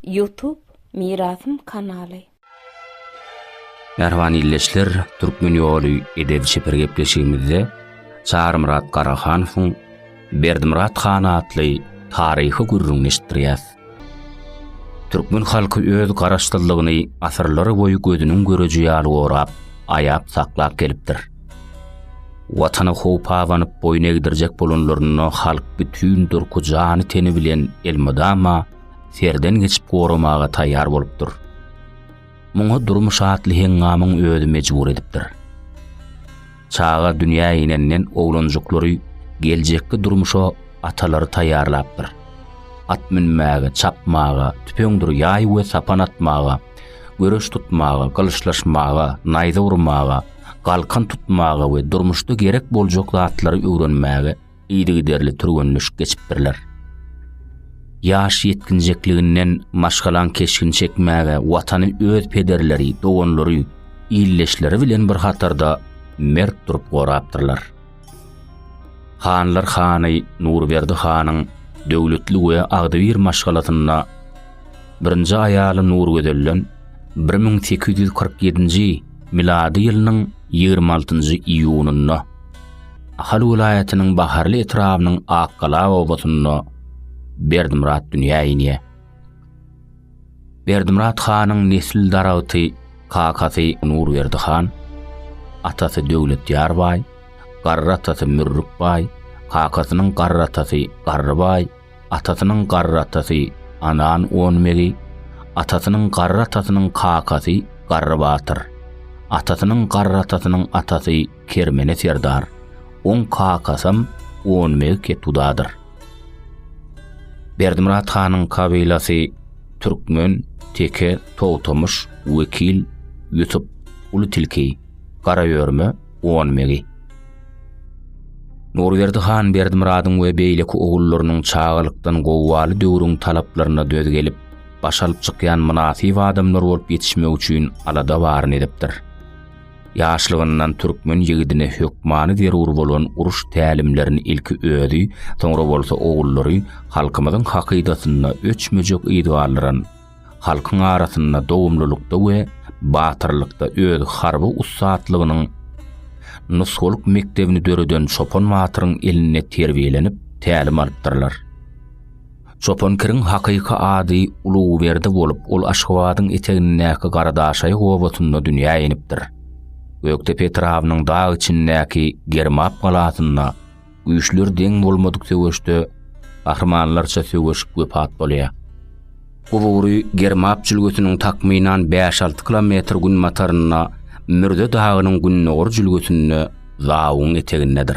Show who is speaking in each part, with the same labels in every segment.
Speaker 1: Ýutub Mirasym kanaly. Mähriban ildeşler, Türkmen ýoly edebi çeper gepleşigimizde Çarymyrat Garahanowyň Berdimyrat han atly taryhy gürrüňini eşitdirýäs. Türkmen halky öz garaşsyzlygyny asyrlar boýy gözüniň göreji ýaly gorap, aýap saklap gelipdir. Watana howp abanyp boýun egdirjek bolanlarynda halk bütin durky jany-teni bilen elmydama serden geçip goramaga taýýar bolupdyr. Muňa durmuş atly heňňamyň özi mejbur edipdir. Çaga dünýä inenden oglanjyklary geljekki durmuşa atalary taýýarlapdyr. At münmäge, çapmaga, tüpeňdir ýaý we sapan atmaga, göreş tutmaga, gylyçlaşmaga, naýza urmaga, galkan tutmaga we durmuşda gerek boljak zatlary öwrenmäge yzygiderli türgenleşik geçipdirler. Ýaş ýetginjekliginden maşgalaň keşgini çekmäge watany öz pederleri, doganlary, ildeşleri bilen bir hatarda mert durup gorapdyrlar. Hanlar hany Nurberdi hanyň döwletli we agzybir maşgalasynda birinji aýaly Nurgözelden bir müň sekiz ýüz kyrk ýedinji milady ýylynyň ýigrimi altynjy iýunynda Ahal welaýatynyň Baharly etrabynyň Akgala obasynda Berdimyrat dünýä inýär. Berdimyrat hanyň nesil daragty kakasy Nurberdi han, atasy Döwletýar baý, garry atasy Mürrük baý, kakasynyň garry atasy Garry baý, atasynyň garry atasy Anan Onmegi, atasynyň garry atasynyň kakasy Garry batyr, atasynyň garry atasynyň atasy Kermene serdar, oň kakasam Onbeg Ketudadyr. Berdimyrat hanyň kabylasy Türkmen, Teke, Togtamyş, Wekil, Ýusup, Uly Tilki, Garaýörme, Onbegi. Nurberdi han Berdimyradyň we beýleki ogullarynyň çagalykdan gowualy döwrüň talaplaryna döz gelip, baş alyp çykýan mynasyp adamlar bolup ýetişmek üçin alada baryny edipdir. Ýaşlygyndan türkmen ýigidine hökmany zerur bolan uruş tälimlerini ilki özi, soňra bolsa ogullary halkymyzyň hakydasynda öçmejek yz galdyran, halkyň arasynda dogumlylykda we batyrlykda öz harby ussatlygynyň nusgalyk mekdebini döreden Çopan batyryň elinde terbiýelenip, tälim alypdyrlar. Çopan Kiriň hakyky ady Uluberdi bolup, ol Aşgabadyň etegindäki Garadaşaýy obasynda dünýä inipdir. Gökdepe etrabynyň dag içindäki Germap galasynda güýçleri deň bolmadyk söweşde gahrymanlarça söweşip wepat bolýar. Gubury Germap jülgesiniň takmynan bäş-alty kilometr günbatarynda, Mürze dagynyň gündogar jülgesinde Zawuň etegindedir.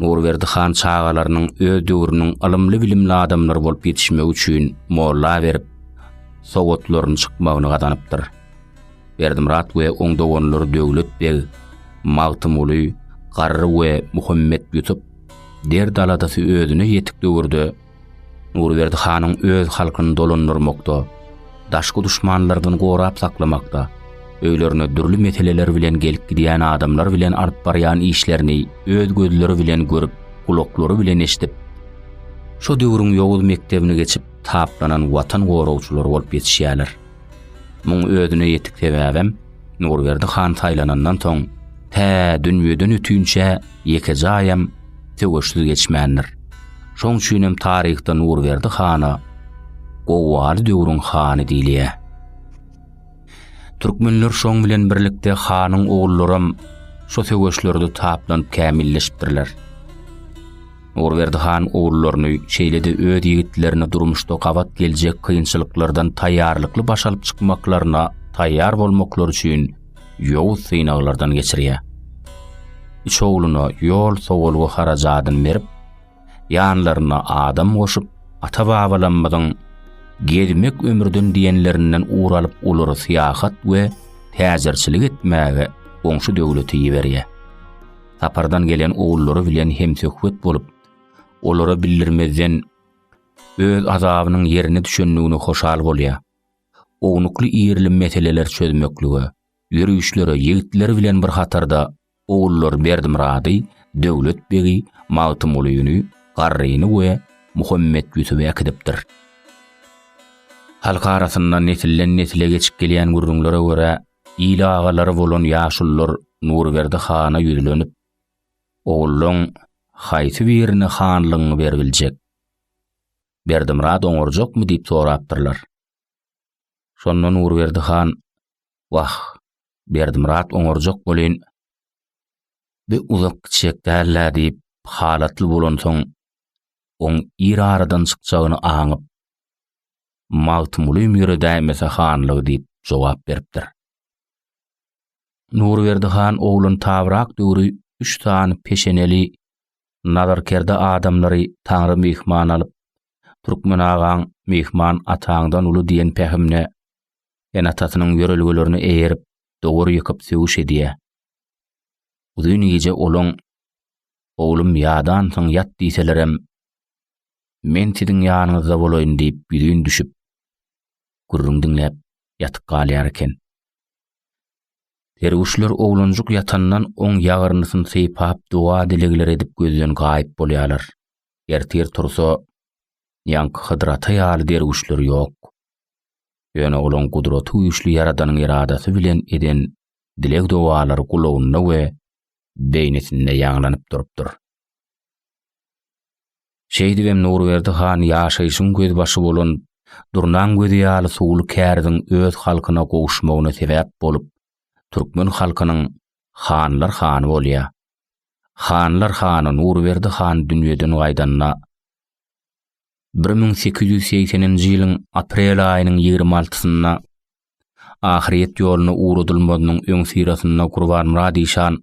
Speaker 1: Nurberdi han çagalarynyň öz döwrüniň ylymly-bilimli adamlary bolup ýetişmegi üçin molla berip, sowatlaryny çykmagyny gazanypdyr. Berdimyrat we oň doganlary Döwlet beg, Magtymguly, Garry we Muhammet Ýusup derd-aladasy özüne ýetik döwürde Nurberdi hanyň öz halkyny dolandyrmakda, daşky duşmanlardan gorap saklamakda, öýlerine dürli meseleler bilen gelip gidýän adamlar bilen alyp barýan işlerini öz gözleri bilen görüp, gulaklary bilen eşidip, şo döwrüň ýowuz mekdebini geçip taplanan watan goragçylary bolup ýetişýärler. Muň özüne ýetik sebäbem, Nurberdi han saýlanandan soň, tä dünýeden ötünçä ýekeje aýam söweşsiz geçmändir. Şoň üçinem taryhda Nurberdi hana Gowwaly döwrüň hany diýilýär. Türkmenler şoň bilen birlikde hanyň ogullaram şo söweşlerde taplanyp kämilleşipdirler. Nurberdi han ogullaryny, şeýle-de öz ýigitlerini durmuşda gabat geljek kynçylyklardan taýýarlykly baş alyp çykmaklaryna taýýar bolmaklary üçin ýowuz synaglardan geçirýär. Üç ogluna ýol sowalgy harajadyny berip, ýanlaryna adam goşup, ata-babalarymyzyň Gezmek ömürden diýenlerinden ugur alyp olary syýahat we täjirçilik etmäge goňşy döwlete iberýär. sapardan gelen ogullary bilen hem söhbet bolup, olara bildirmezden öz azabynyň ýerine düşendigine hoşal bolýar. Ownukly ýerli meseleler çözmeklige, ýörüşlere ýigitleri bilen bir hatarda ogullar Berdimyrady, Döwlet begi, Magtymgulyny, Garryny we Muhammetýusuby äkidipdir. Halk arasynda nesilden-nesile geçip gelýän gürrüňlere görä, Il agalary bolan ýaşulular Nurberdi hana ýüzlenip, Ogullaň haýsy birine hanlygyňy beribiljek? Berdimyrat oňarjakmy diýip sorapdyrlar. Şonda Nurberdi han, Wah, Berdimyrat oňarjak bolýn, bi uzak gitjek däl-ä diýip, halatly bolansoň, oň ir aradan çykjagyny aňyp, Magtymgulyym ýöredäýmese hanlygy diýip jogap beripdir. Nurberdi han oglan tabrak döwri üç sany peşeneli, nazarkerde adamlary Taňry myhman alyp, Türkmen agaň myhman ataňdan uly diýen pähimine, ene-atasynyň ýörelgelerine eýerip, dowar ýykyp sögüş edýär. Uzyn gije olaň, Oglum ýadansyň ýat diýselerem, Men siziň ýanyňyzda bolaýyn diýip ýüzin düşüp, gürrüň diňläp ýatyp galýar eken. Derwüşler oglanjyk ýatandan oň ýagyrnysyny sypap doga-dilegler edip gözden gaýyp bolýarlar. Ertir tursa, ýaňky Hydyr ata ýaly derwüşler ýok. Ýöne olaň gudraty güýçli Ýaradanyň eradasy bilen eden dileg-dogalary gulagynda we beýnisinde ýaňlanyp durupdyr. Şeýdibem Nurberdi han ýaşaýşyň gözbaşy bolan Durnaň gözi ýaly suwly käriziň öz halkyna gowuşmagyna sebäp bolup, türkmen halkynyň Hanlar hany bolýar. Hanlar hany Nurberdi han dünýeden gaýdanda, bir müň sekiz ýüz segseninji ýylyň aprel aýynyň ýigrimi altysynda ahyret ýoluna ugradylmazynyň öňüsyrasynda Gurbanmyrat işan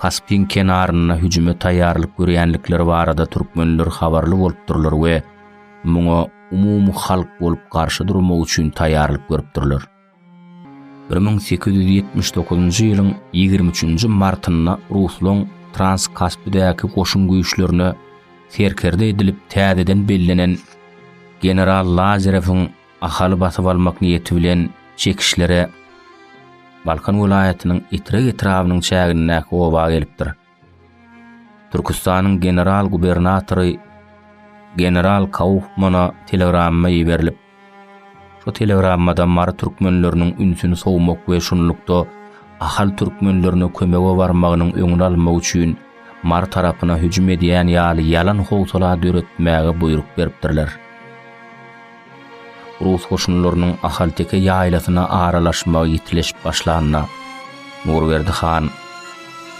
Speaker 1: Kaspyň kenaryna hüjüme taýýarlyk görýändikleri barada türkmenler habarly bolupdyrlar we muňa umumyhalk bolup garşy durmak üçin taýýarlyk görüpdirler. Bir müň sekiz ýüz ýetmiş dokuzynjy ýylyň ýigrimi üçünji martynda ruslaň Transkaspidäki goşun güýçlerine serkerde edilip täzeden bellenen general Lazerewiň Ahaly basyp almak niýeti bilen çekişlere Balkan welaýatynyň Etrek etrabynyň çägindäki oba gelipdir. Türküstanyň general-gubernatory general Kaufmana telegramma iberilip, şu telegrammada mary türkmenleriniň ünsüni sowmak we şunlukda ahal türkmenlerine kömege barmagynyň öňüni almak üçin mary tarapyna hüjüm edýän ýaly ýalan howsala döretmäge buýruk beripdirler. Rus goşunlarynyň ahalteke ýaýlasyna aralaşmagy ýitileşip başlanda, Nurberdi han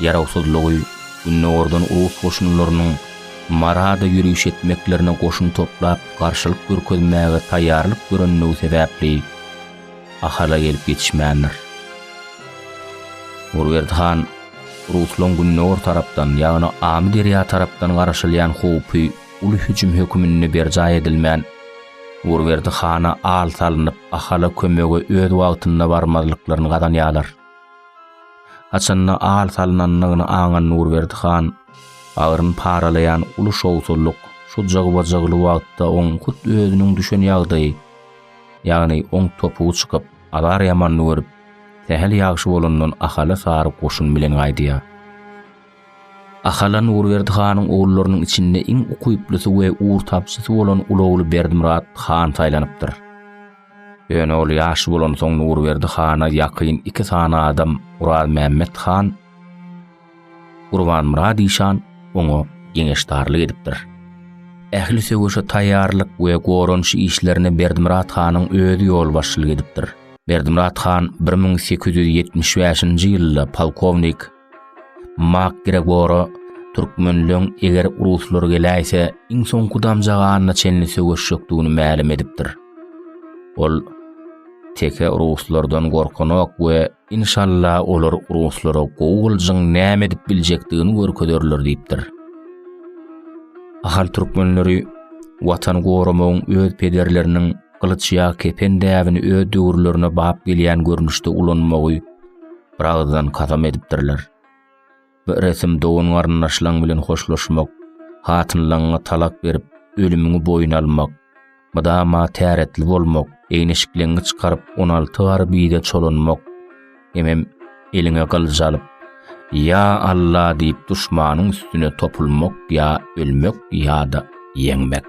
Speaker 1: ýarawsyzlygy gündogardan rus goşunlarynyň Marada ýöriş etmeklerine goşun toplap garşylyk görkezmäge taýýarlyk görendigi sebäpli Ahala gelip ýetişmändir. Nurberdi han ruslaryň gündogar tarapdan, ýagny Amyderýa tarapdan garaşylýan howpy Uly hüjüm höküminde berjaý edilmän, Urberdi hana al salnyp, Ahala kömege öz wagtynda barmazlyklaryny gazanýarlar. Haçanda al salnandygyny aňan Nurberdi han bagryny paralaýan uly şowsuzlyk şu jygba-jygly wagtda oň hut özüniň düşen ýagdaýy, ýagny oň topugy çykyp, azar ýamanyny görüp, sähel ýagşy bolandan Ahala sary goşun bilen gaýdýar. Ahal han Nurberdi hanyň ogullarynyň içinde iň ukyplusy we ugurtapjysy bolan uly ogly Berdimyrat han saýlanypdyr. Ýöne ol ýaş bolansoň Nurberdi hana ýakyn iki sany adam Orazmämmet han, Gurbanmyrat işan oňa geňeşdarlyk edipdir. Ähli söweşe taýýarlyk we goranyş işlerine Berdimyrat hanyň özi ýolbaşçylyk edipdir. Berdimyrat han bir müň sekiz ýüz ýetmiş bäşinji ýylda polkownik Mak Gregora türkmenleň eger ruslar geläýse iň soňky damja ganyna çenli söweşjekdigini mälim edipdir. Ol teke ruslardan gorkanok we inşalla olar ruslara gowuljyň näme edip biljekdigini görkezerler diýipdir. Ahal türkmenleri watan goramagyň öz pederleriniň gylyç ýa kepen däbini öz döwürlerine bap gelýän görnüşde ulanmagy bir agyzdan kasam edipdirler. Bu resim dogan garyndaşlaň bilen hoşlaşmak, hatynlaňňa talak berip, ölümiňi boýun almak, mydama täretli bolmak, eýneşikleňňi çykaryp, on alty gar bize çolanmak, hemem eliňe gylyj alyp, Ýa Alla diýip duşmanyň üstüne topulmak ýa ölmek ýa-da ýeňmek.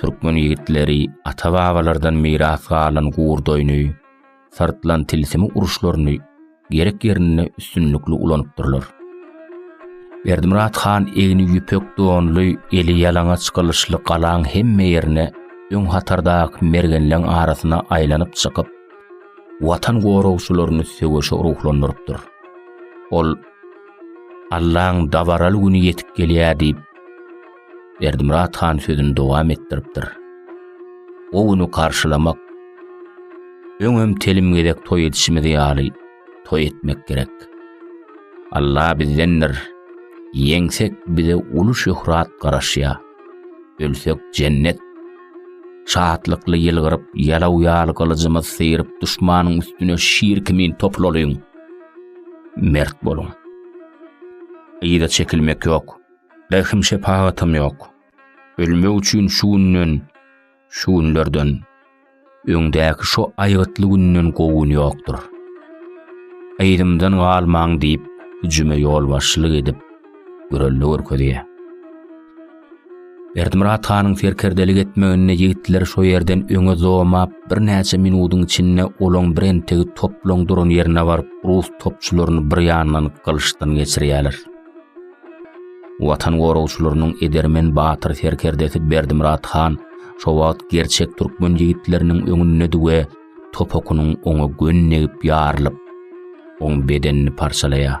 Speaker 1: Türkmen ýigitleri ata-babalardan miras galan gurdoýny, syrtlan tilsimi uruşlaryny gerek ýerinde üstünlikli ulanypdyrlar. Berdimyrat han egni ýüpek donly, eli ýalaňaç gylyçly galaň hemme ýerine öň hatardaky mergenleň arasyna aýlanyp çykyp, Watan goragçylaryny söweşe ruhlandyrypdyr. Ol Allaň dabaraly güni ýetip gelýär diýip, Berdimyrat han sözüni dowam etdiripdir. O güni garşylamak, öňem telim gezek toý edişimiz ýaly toý etmek gerek. Alla bizdendir. Ýeňsek bize uly şöhrat garaşýar. Ölsek jennet. Şatlykly ýylgyryp, ýalaw ýaly gylyjymyz syryp duşmanyň üstüne şir kimin toplalyň. Mert boluň. Yza çekilmek ýok. Rehim-şepagatam ýok. Ölmek üçin şu günden, şu günlerden, öňdäki şo aýgytly günden gowy gün ýokdur. Yzymdan galmaň diýip, hüjüme ýolbaşçylyk edip, gürrüldä görkezýär. Berdimyrat hanyň serkerdelik etmeginde ýigitler şo ýerden öňe zomap, birnäçe minudyň içinde olaň birentegi toplaň duran ýerine baryp, rus topçularyny bir ýandan gylyçdan geçirýärler. Watan goragçylarynyň edermen batyr serkerdesi Berdimyrat han şo wagt gerçek türkmen ýigitleriniň öňündedi we topukynyň oňa gönnegip ýarylyp, oň bedenini parçalaýar.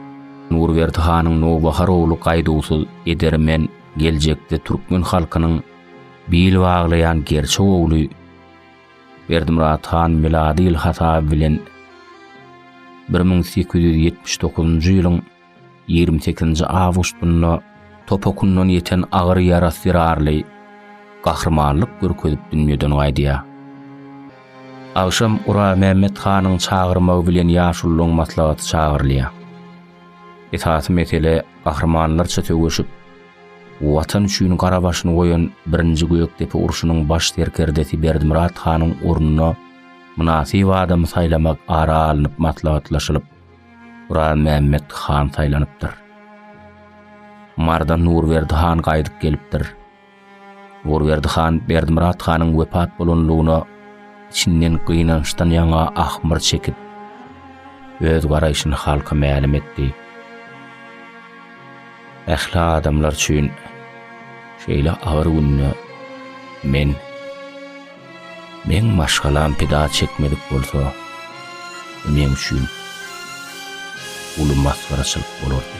Speaker 1: Nurberdi hanyň nowbahar ogly gaýduwsyz edermen geljekde türkmen halkynyň bil baglaýan gerçek ogly Berdimyrat han milady ýyl hasaby bilen bir müň sekiz ýüz ýetmiş dokuzynjy ýylyň ýigrimi sekizinji awgustynda topakyndan ýeten agyr ýarasy zerarly gahrymanlyk görkezip dünýeden gaýdýar. Agşam Guramämmet hanyň çagyrmagy bilen ýaşulylaryň maslahaty çagyrylýar. Esasy mesele gahrymanlarça söweşip, Watan üçin gara başyny goýan birinji Gökdepe urşunyň baş serkerdesi Berdimyrat hanyň ornuna mynasyp adamy saýlamak ara alnyp maslahatlaşylyp, Guramämmet han saýlanypdyr. Mardan Nurberdi han gaýdyp gelipdir. Nurberdi han Berdimyrat hanyň wepat bolanlygyna içinden gynançdan ýaňa ahmyr çekip, öz garaýşyny halka mälim etdi. Ähli adamlar üçin şeýle agyr günde men meň maşgalam pida çekmedik bolsa, bu meň üçin uly masgaraçylyk bolardy.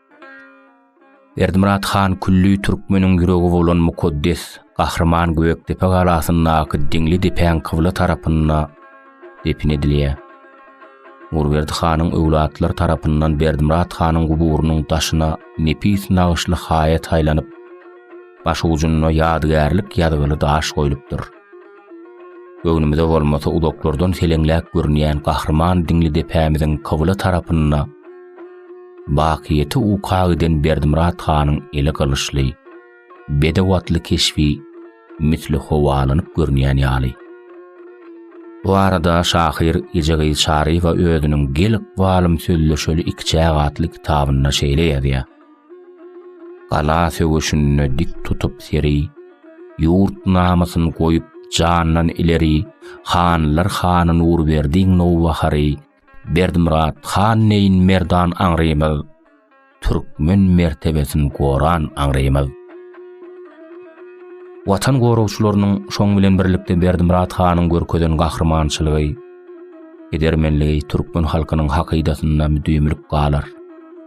Speaker 1: Berdimyrat han külli türkmeniň ýüregi bolan mukaddes Gahryman Gökdepe galasyndaky Diňli depäň kybla tarapynda depin edilýär. Nurberdi hanyň öwlatlary tarapyndan Berdimyrat hanyň guburynyň daşyna nepis nagyşly haýa taýlanyp, baş ujunda ýadygärlik ýazgyly daş goýlupdyr. Göwnümize bolmasa uzaklardan seleňläp görünýän gahryman diňli depämiziň kybla tarapynda bakyýeti uka giden Berdimyrat hanyň eli gylyçly, bedew atly keşbi misli howalanyp görünýän ýaly. Bu arada şahyr Ejegyz Çaryýewa özüniň Gel ykbalym sözleşeli ikiçäk atly kitabynda şeýle ýazýar. Gala söweşinde dik tutup seri, Ýurt namysyn goýup jandan ileri, Hanlar hany Nurberdiň nowbahary, Berdimyrat han deýin merdan aňrymyz, Türkmen mertebesin goran aňrymyz. Watan goragçylarynyň, şoň bilen birlikde Berdimyrat hanyň görkezen gahrymançylygy, edermenligi türkmen halkynyň hakydasynda müdimilik galar.